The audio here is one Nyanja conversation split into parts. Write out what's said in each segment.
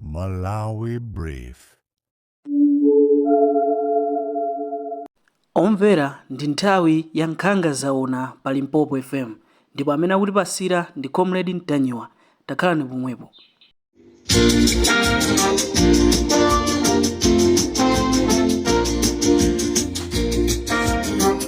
Malawi Brief. Omvera ndi nthawi ya nkhanga zaona pa Limpopo FM ndipo amene akutipasira ndi Comrade Ntanyiwa. Takhalani pomwepo.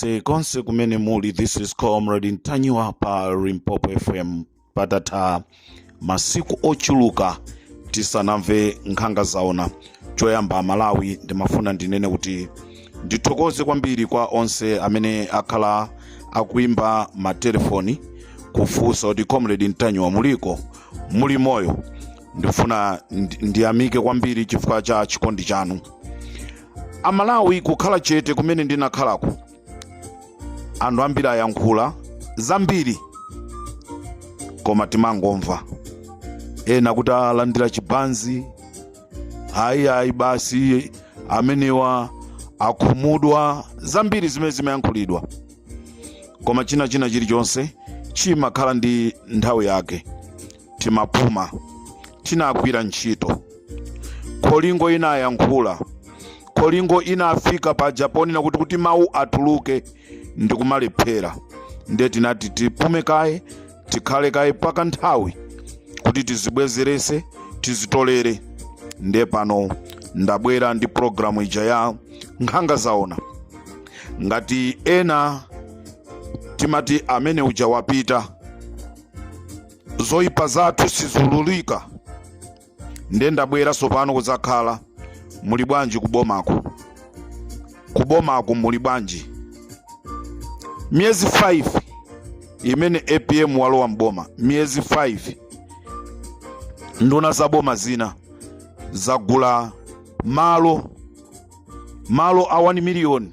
konse konse kumene muli this is comrade ntanyiwa pa limpopo fm patatha masiku ochuluka tisanamve nkhanga zaona choyamba malawi ndimafuna ndinene kuti ndithokoze kwambiri kwa onse amene akhala akuimba matelefoni kufunsa kuti comrade ntanyiwa muliko muli moyo ndifuna ndi- ndiyamike kwambiri chifukwa cha chikondi chanu amalawi kukhala chete kumene ndinakhalako anthu ambiri ayankhula zambiri koma timangomva ena kuti alandira chibanzi ayi ayi basi amenewa akhumudwa zambiri zimene zimayankhulidwa koma china china chilichonse chimakhala ndi nthawi yake timapuma tinagwira ntchito kholingo inayankhula kholingo inafika paja ponena kuti kuti mawu atuluke ndi kumalephera ndiye tinati tipume kaye tikhale kaye paka nthawi kuti tizibwezerese tizitolere ndiye pano ndabwera ndi programu ija ya nkhanga zaona ngati ena timati amene uja wapita zoyipa zathu sizululika ndiye ndabwera tsopano kudzakhala muli bwanji kubomako kubomako muli bwanji miyezi 5 imene apm walowa mboma miyezi 5 nduna za boma zina zagula malo malo a 1 miliyoni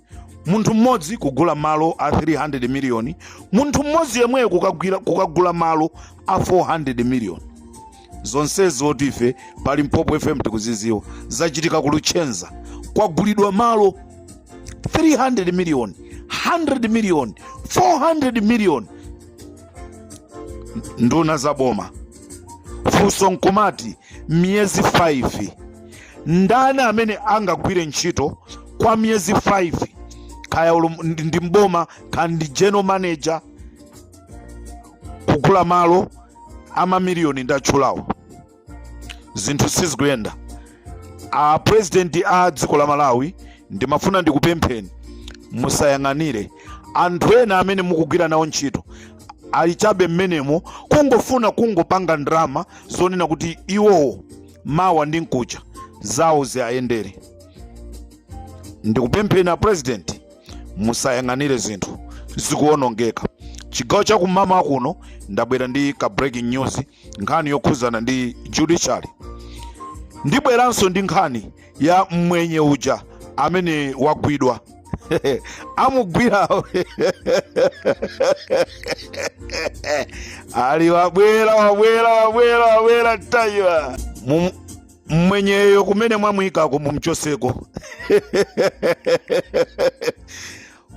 munthu mmodzi kugula malo a 300 miliyoni munthu mmodzi yemweyo kukagwira- kukagula malo a 400 miliyoni zonsezi oti ife pa limpopo fm tikuziziwa zachitika ku luchenza kwagulidwa malo 300 miliyoni 100 miliyoni 400 miliyoni nduna za boma funso nkumati miyezi 5 ndani amene angagwire ntchito kwa miyezi 5 kaya olo ndi mboma kaya ndi general manager kugula malo amamiliyoni ndatchulawo zinthu sizikuyenda a president a dziko la malawi ndimafuna ndikupempheni musayang'anire anthu ena amene mukugwira nawo ntchito ali chabe mmenemo kungofuna kungopanga ndalama zonena kuti iwowo mawa ndi mkucha zawo ziayendere ndikupempheni a president musayang'anire zinthu zikuonongeka chigawo cha kumamawa kuno ndabwera ndi ka breaking news nkhani yokhuzana ndi judiciary ndibweranso ndi nkhani ya mmwenye uja amene wagwidwa amugwirawo ali wabwera wabwera wabwera wabwera ntanyiwa Mum- mmwenyeyo kumene mwamuyikako mumchoseko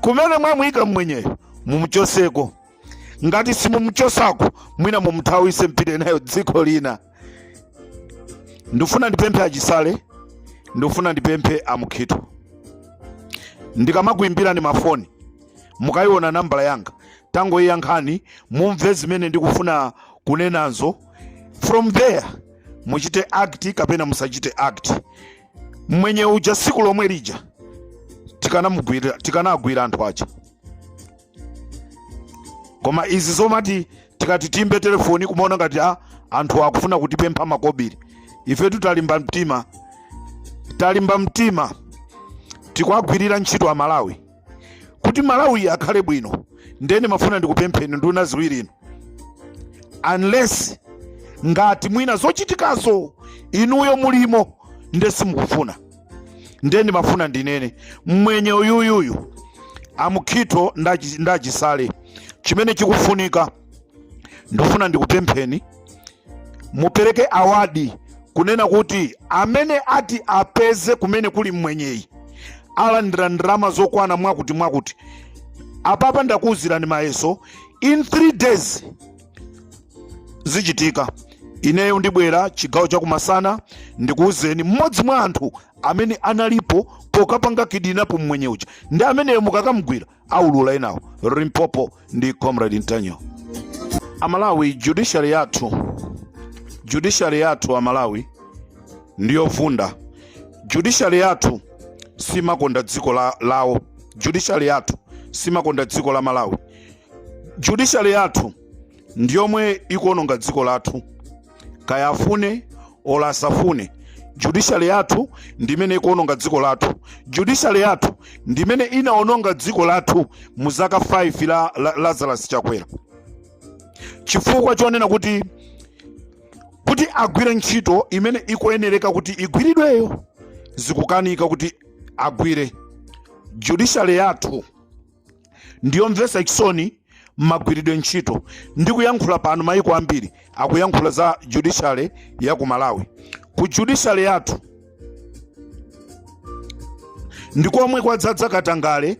kumene mwamuyika mmwenyeyo mumchoseko ngati simumchosako mwina mumthawise mpite nayo dziko lina ndifuna ndipemphe achisale ndifuna ndipemphe amukhito ndikamakuyimbirani mafoni mukayiona nambala yanga tangoyiyankhani mumve zimene ndikufuna kunenazo from there muchite act kapena musachite act mwenye uja siku lomwe lija tikanamugwira tikanagwira anthu aja koma izi zomati tikati tiyimbe telefoni kumaona ngati a anthu akufuna kutipempha makobiri ifetu talimba mtima talimba mtima tikuwagwirira ntchito amalawi kuti malawi akhale bwino nde ndimafuna ndikupempheni nduna ziwiri inu unless ngati mwina zochitikazo inuyo mulimo nde simukufuna ndiye ndimafuna ndinene mmwenye uyuyuyu amukhito ndachi- ndachisale chimene chikufunika ndifuna ndikupempheni mupereke awadi kunena kuti amene ati apeze kumene kuli mmwenyeyi alandira ndalama zokwana mwakuti mwakuti apapa ndakuwuzirani mayeso in 3 days zichitika ineyo ndibwera chigawo chakumasana ndikuwuzeni mmodzi mwa anthu amene analipo pokapanga kidnap mmwenye uja ndi ameneyo mukakamgwira aulula enawo limpopo ndi comrade ntanyiwa amalawi judiciary yathu judiciary yathu amalawi ndiyovunda judiciary yathu simakonda dziko la, lawo judiciary yathu simakonda dziko la malawi judiciary yathu ndi yomwe ikuononga dziko lathu kaya afune olo asafune judiciary yathu ndi imene ikuononga dziko lathu judiciary yathu ndi imene inaononga dziko lathu mu zaka 5 la, la lazarus chakwera chifukwa chonena kuti kuti agwire ntchito imene ikuyenereka kuti igwiridweyo zikukanika kuti agwire judiciary yathu ndiyomvesa chisoni mmagwiridwe ntchito ndi kuyankhula pano mayiko ambiri akuyankhula za judiciary ya ku malawi ku judiciary yathu ndi komwe kwadzadza katangale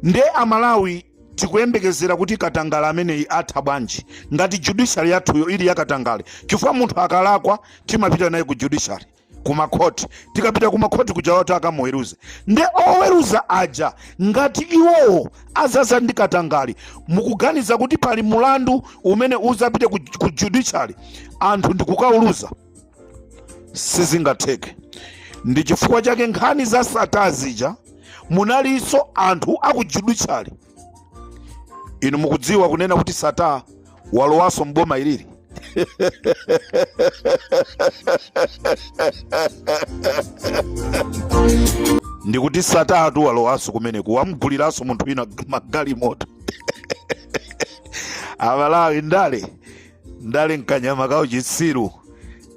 nde amalawi tikuyembekezera kuti katangale ameneyi atha bwanji ngati judiciary yathuyo ili yakatangale chifukwa munthu akalakwa timapita naye ku judiciary kumakhoti tikapita kumakhoti kuja watu akamuweruze nde oweruza aja ngati iwowo azaza ndi katangale mukuganiza kuti pali mulandu umene uzapite ku, ku judiciary anthu ndikukauluza sizingatheke ndi chifukwa chake nkhani za sattar zija munalinso anthu akujudiciary inu mukudziwa kunena kuti sattar walowanso mboma ilili ndikuti sattartu walowanso kumeneku wamguliranso munthu wina magalimoto amalawi ndale ndale nkanyama ka uchitsiru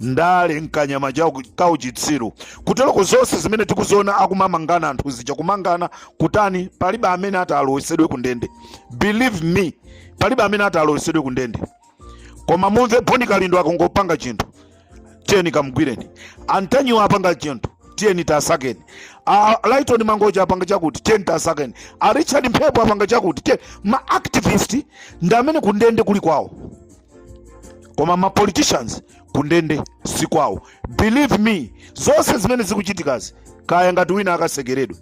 ndale nkanyama cha uku- ka uchitsiru kuteroko zonse zimene tikuziona akumamangana anthu zija kumangana kutani palibe amene ati alowesedwe ku ndende believe me palibe amene ati alowesedwe ku ndende koma mumve bon kalindo akangopanga chinthu tiyeni kamgwireni a ntanyiwa apanga chinthu tiyeni tasakeni a lyton mangochi apanga chakuti tiyeni tasakeni a richard mphepo apanga chakuti tiyeni ma activist ndi amene kundende kuli kwawo koma ma politicians kundende si kwawo believe me zonse zimene zikuchitikazi kaya ngati wina akasekeredwe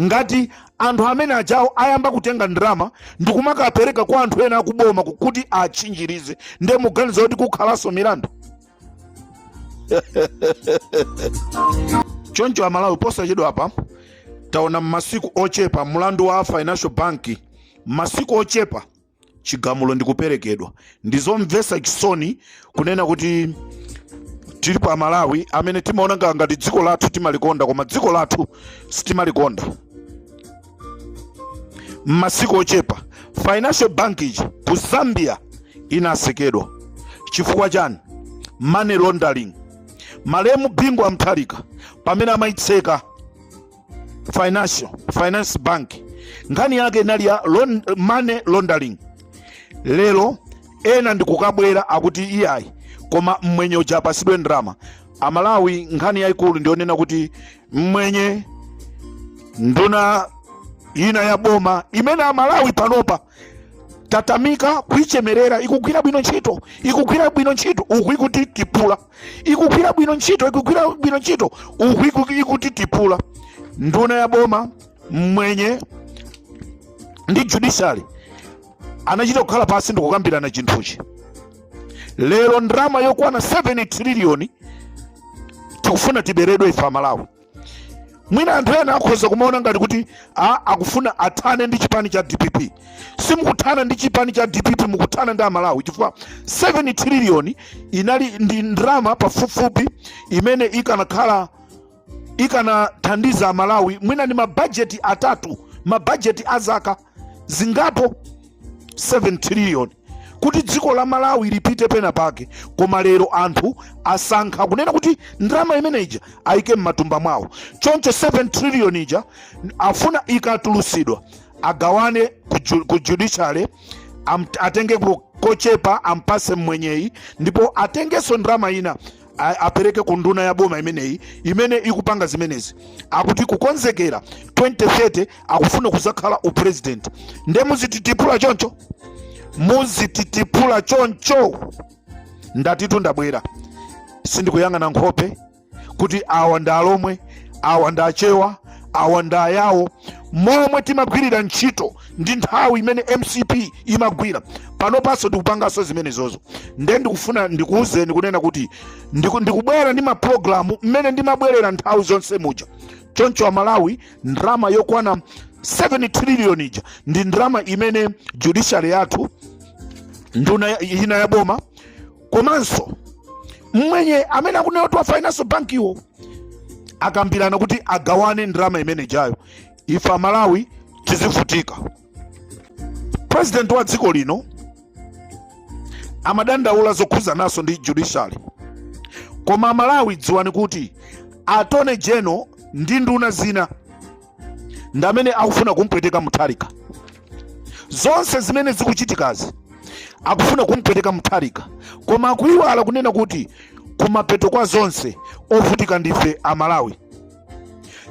ngati anthu amene ajawo ayamba kutenga ndalama ndi kumakapereka kwa anthu ena akuboma ku- kuti atchinjirize ndiye muganiza kuti kukhalanso milandu choncho amalawi posachedwa apa taona m'masiku ochepa mlandu wa financial bank m'masiku ochepa chigamulo ndi kuperekedwa ndi zomvetsa chisoni kunena kuti tili pa malawi amene timaona nga- ngati dziko lathu timalikonda koma dziko lathu sitimalikonda m'masiku ochepa financial bank ija ku zambia inasekedwa chifukwa chani money laundering malemu bingu wa mutharika pamene amayitseka financial finance bank nkhani yake inali ya lon- money laundering lero ena ndikukabwera akuti iyayi koma mmwenye uja apasidwe ndalama amalawi nkhani yayikulu ndiyonena kuti mmwenye nduna ina ya boma imene amalawi panopa tatamika kuichemerera ikugwira bwino ntchito ikugwira bwino ntchito uku ikuti tipula ikugwira bwino ntchito ikugwira bwino ntchito uku iku- ikutitipula nduna ya boma mmwenye ndi judiciary anachita kukhala pansi ndikukambirana chinthuchi lero ndalama yokwana 7 triliyoni tikufuna tiberedwe ife amalawi mwina anthu ena akhoza kumaona ngati kuti a, akufuna athane ndi chipani cha dpp simukuthana ndi chipani cha dpp mukuthana ndi amalawi chifukwa 7 triliyoni inali ndi ndalama pafupifupi imene ikanakhala ikanathandiza amalawi mwina ndi mabajeti atatu mabajeti a zaka zingapo 7 trillion kuti dziko la malawi lipite pena pake koma lero anthu asankha kunena kuti ndalama imene ija ayike m'matumba mwawo choncho 7 trillion ija afuna ikatulusidwa agawane ku ju- ku judiciary am- atenge ku- kochepa ampase mmwenyeyi ndipo atengenso ndalama ina a- apereke ku nduna ya boma imeneyi imene ikupanga zimenezi akuti kukonzekera 2030 akufuna kuzakhala upresident nde muzititipula choncho muzititipula choncho ndatitu ndabwera sindikuyang'ana nkhope kuti awa ndi alomwe awa ndi achewa awa ndi ayawo momwe timagwirira ntchito ndi nthawi imene mcp imagwira panopanso tikupanganso zimenezozo nde ndikufuna ndikuwuzeni kunena kuti ndiku- ndikubwera ndi mapulogalamu mmene ndimabwerera nthawi zonse muja choncho amalawi ndrama yokwana 7 trillion ija ndi ndrama imene judiciary yathu nduna ya- ina ya boma komanso mmwenye amene akunena kuti wa financial bank iwo akambirana kuti agawane ndrama imene ijayo ife amalawi tizivutika president wa dziko lino amadandaula zokhuzananso ndi judiciary koma amalawi dziwani kuti attorney general ndi nduna zina ndi amene akufuna kumpweteka mutharika zonse zimene zikuchitikazi akufuna kumpweteka mutharika koma akuiwala kunena kuti kumapeto kwa zonse ovutika ndife amalawi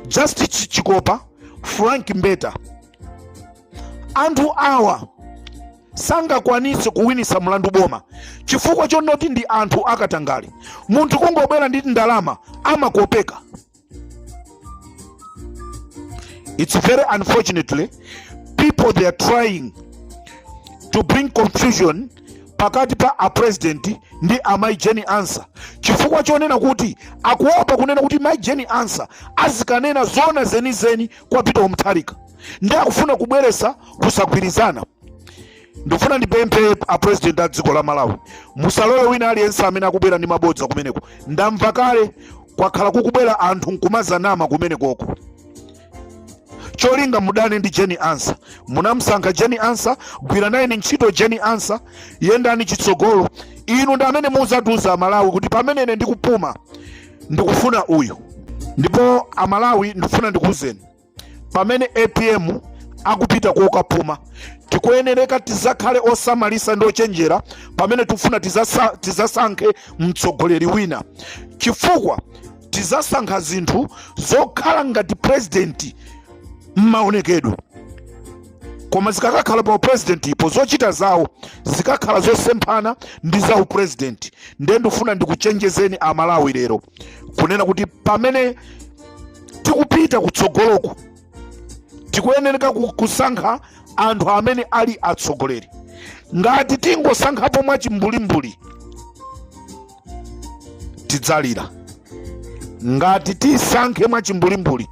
justice chikopa frank mbeta anthu awa sangakwanitse kuwinitsa mlandu boma chifukwa chonoti ndi anthu akatangale munthu kungobwera ndi ndalama amakopeka it's very unfortunately people they are trying to bring confusion pakati pa apurezidenti ndi amayi jeni ansa chifukwa chonena kuti akuopa kunena kuti mayi jeni ansa azikanena zoona zenizeni kwa peter mutharika ndi akufuna kubweresa kusagwirizana ndikufuna ndipemphe apurezidenti a dziko la malawi musalole wina aliyense amene akubwera ndi mabodza kumeneko ndamva kale kwakhala kukubwera anthu nkumazanama kumenekoko cholinga mudane ndi jeni ansa munamsankha jeni ansa gwira nayeni ntchito jeni ansa yendani chitsogolo inu ndi amene muzatiuza amalawi kuti pamene ine ndikupuma ndikufuna uyu ndipo amalawi ndikufuna ndikuuzeni pamene apm akupita kokapuma tikuyenereka tizakhale osamalisa ndi ochenjera pamene tikufuna tizasankhe mtsogoleri wina chifukwa tizasankha zinthu zokhala ngati president mmaonekedwe koma zikakakhala pa upresidentipo zochita zawo zikakhala zosemphana ndi za upresident ndiye ndikufuna ndikuchenjezeni amalawi lero kunena kuti pamene tikupita kutsogoloku tikuyenereka kusankha anthu amene ali atsogoleri ngati tingosankhapo mwachimbulimbuli tidzalira ngati tisankhe mwachimbulimbuli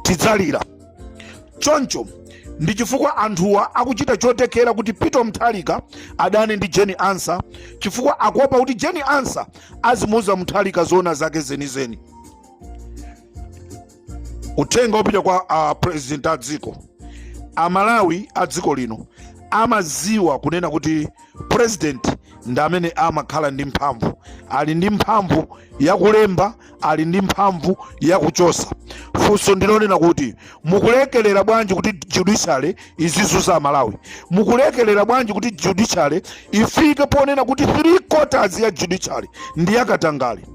tidzalira choncho ndi chifukwa anthuwa akuchita chothekera kuti peter mutharika adane ndi jeni ansa chifukwa akuopa kuti jeni ansa azimuuza mutharika zoona zake zenizeni uthenga wopita kwa a president a dziko amalawi a dziko lino amaziwa kunena kuti president ndi amene amakhala ndi mphamvu ali ndi mphamvu yakulemba ali ndi mphamvu yakuchosa funso ndilonena kuti mukulekelera bwanji kuti judiciary izizunza amalawi mukulekelera bwanji kuti judiciary ifike ponena kuti three quarters ya judiciary ndi yakatangali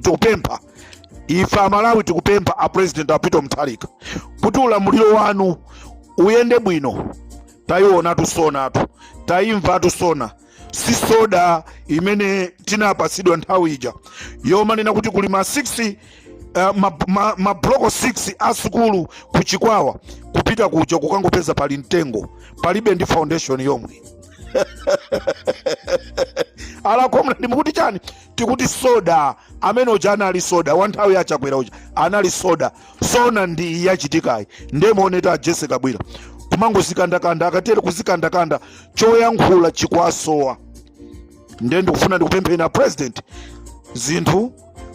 tikupempha ife amalawi tikupempha a president a peter mutharika kuti ulamuliro wanu uyende bwino tayiwonatu sona tu tayimvatu sona si soda imene tinapatsidwa nthawi ija yomanena kuti kuli ma 6 uh, mabloko ma, ma mabloko 6 a sukulu ku chikwawa kupita kuja kukangopeza pali mtengo palibe ndi foundation yomwe a comrade nde mukuti chani tikuti soda amene uja anali soda wa nthawi ya chakwera uja anali soda sona ndi iyi yachitikayi nde muonetu a jessie kabwila kumangozikandakanda akatere kuzikandakanda choyankhula chikwasowa ndiye ndikufuna ndikupempheni a president zinthu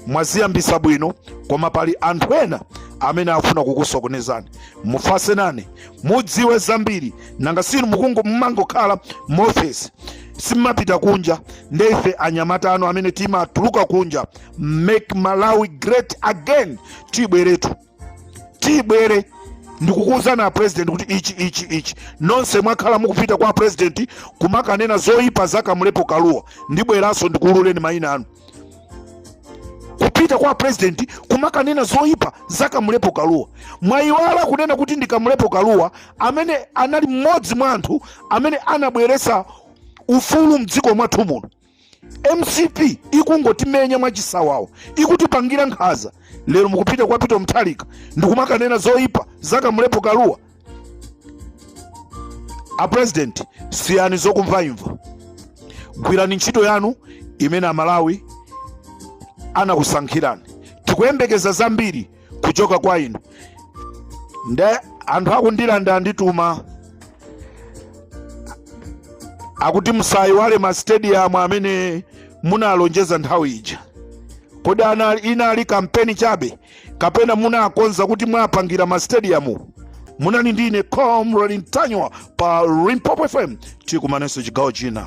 mwaziyambisa bwino koma pali anthu ena amene afuna kukusokonezani mufase nane mudziwe zambiri nanga sinu mukungo mumangokhala muofesi simumapita kunja nde ife anyamata anu amene timatuluka kunja make malawi great again tibweretu tibwere ndikukuwuzani a president kuti ichi ichi ichi nonse mwakhala mukupita kwa president kumakanena zoyipa za kamlepo kalua ndibweranso ndikuwululeni mayina anu kupita kwa president kumakanena zoyipa za kamlepo kalua mwayiwala kunena kuti ndi kamlepo kalua amene anali mmodzi mwa anthu amene anabweresa ufulu mdziko mwathu muno mcp ikungotimenya mwachisawawa ikutipangira nkhaza lero mukupita kwa peter mutharika ndikumakanena zoyipa za kamlepo kalua a president siyani zokumvaimva gwirani ntchito yanu imene amalawi anakusankhirani tikuyembekeza zambiri kuchoka kwa inu nde anthu aku ndirande andituma akuti musayiwale ma stadium amene munalonjeza nthawi ija kodi ana- inali kampeni chabe kapena munakonza kuti mwapangira ma stadium munali ndi ine comrade ntanyiwa pa limpopo fm tikumanenso chigawo china